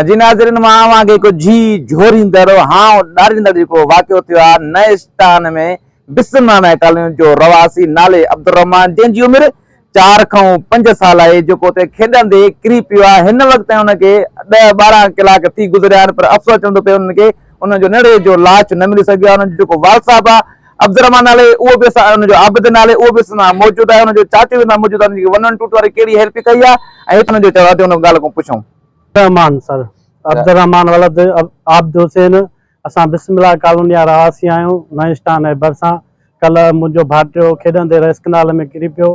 جي ناظرين مان اوهان کي هڪ جي جهوريندڙ هانء ڏاريندڙ جيڪو واقعو ٿيو آهي نئسٽان ۾ بسم معنيٰ ڪالوني جو رهواسي نالي عبدالرحمان جنهن جي عمر چار کئون پنج سال آهي جيڪو اتي کيڏندي ڪري پيو آهي هن وقت تائين ان کي ڏهه ٻارهن ڪلاڪ ٿي گذريا آهن پر افسوس چوندو پئي انهن کي انهن جو نڙي جو لاش نه ملي سگهيو آهي انهن جو جيڪو والد صاحب آهي عبدالرحمان نالي اهو به اسان ان جو عابد نالي اهو به اسان سان موجود آهي ان جو چاچو به اسان سان موجود آهي ان جي ون ون ٽو ٽو واري ڪهڙي هيلپ ڪئي آهي ۽ هت ان جو چيو اچو ان ڳالهه کان پڇون. عبدالرحمان سر عبدالرحمان ولد عابد حسين اسان بسم الله ڪالوني جا رهواسي آهيون نئين اسٽان جي ڀرسان ڪلهه منهنجو ڀائٽيو کيڏندي رئيس ڪئنال ۾ ڪري پيو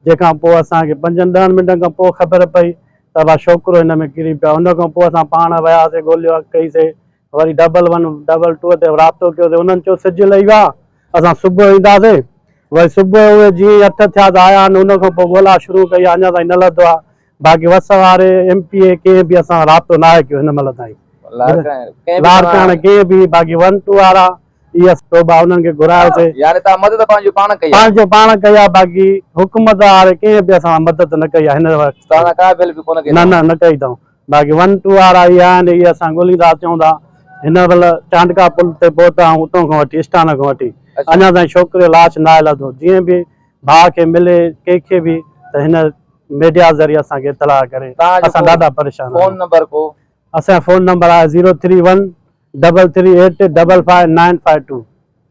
جنهن کان پوء اسان کي پنجن ڏهن منٽن کان پوء خبر پئي ته ابا شوڪرو هن ۾ ڪري پيو آهي ان کان پوء اسان پاڻ وياسي ڳوليو ڪئي سي وري ڊبل ون ڊبل ٽو تي رابطو ڪيو تي انهن چيو سج لهي ويو آهي اسان صبح جو اينداسين وري صبح جو اهي جيئن ئي اٺ ٿيا ته آيا نه ان کان پوء ڳولا شروع ڪئي آهي اڃا تائين نه لڌو آهي باقي وس واري ايم پي اي ڪنهن به اسان سان رابطو ناهي ڪيو هن مهل تائين لاڙڪاڻي ڪنهن به باقي ون ٽو وارا اي ايس صوبا انهن کي گهرايو سي يعني توهان مدد پنهنجو پاڻ ڪئي آهي پنهنجو پاڻ ڪئي آهي باقي حڪومت واري ڪنهن به اسان سان مدد نه ڪئي آهي هن وقت توهان سان ڪا به هيلپ ڪونه ڪئي نه نه نه ڪئي اٿئون. باقي ون ٽو وارا اهي آهن جي اسان ڳوليندا اچون ٿا هن مهل چانڊڪا پل تي پهتا آهيون اتو کان وٺي اسٽان کان وٺي اڃا تائين ڇوڪري جو لاش ناهي لڌو جيئن به ڀاء کي ملي ڪنهن کي به ته هن ميڊيا ذريعي اسان کي اطلاع ڪري اسان ڏاڍا پريشان آهيون اسان جو فون نمبر آهي zero three one double three eight double five nine five two.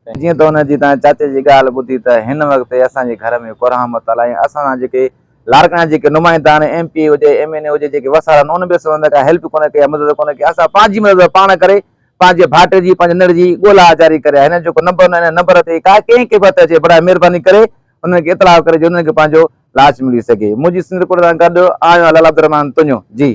جيئن ته هن جي تان چاچي جي ڳالهه ٻڌي ته هن وقت اسان جي گهر ۾ ڪورهان متل آهي ۽ اسان سان جيڪي لاڙڪاڻي جا جيڪي نمائندا آهن ايم پي اي هجي ايم اين اي هجي جيڪي وسار آهن انهن به اسان سان ڪا هيلپ ڪونه ڪئي يا مدد ڪونه ڪئي اسان پنهنجي مدد پاڻ ڪري پنهنجي ڀائٽي جي پنهنجي نڙ جي ڳولا جاري ڪري آهي هن جو جيڪو نمبر انهن نمبر تي ڪا ڪنهن کي به هٿ اچي برائي مهرباني ڪري انهن کي اطلاع ڪري جيئن انهن کي پنهنجو لاش ملي سگهي منهنجي سنڌ رپورٽر سان گڏ آهيان لعل عبدالرحمان تنيو جي.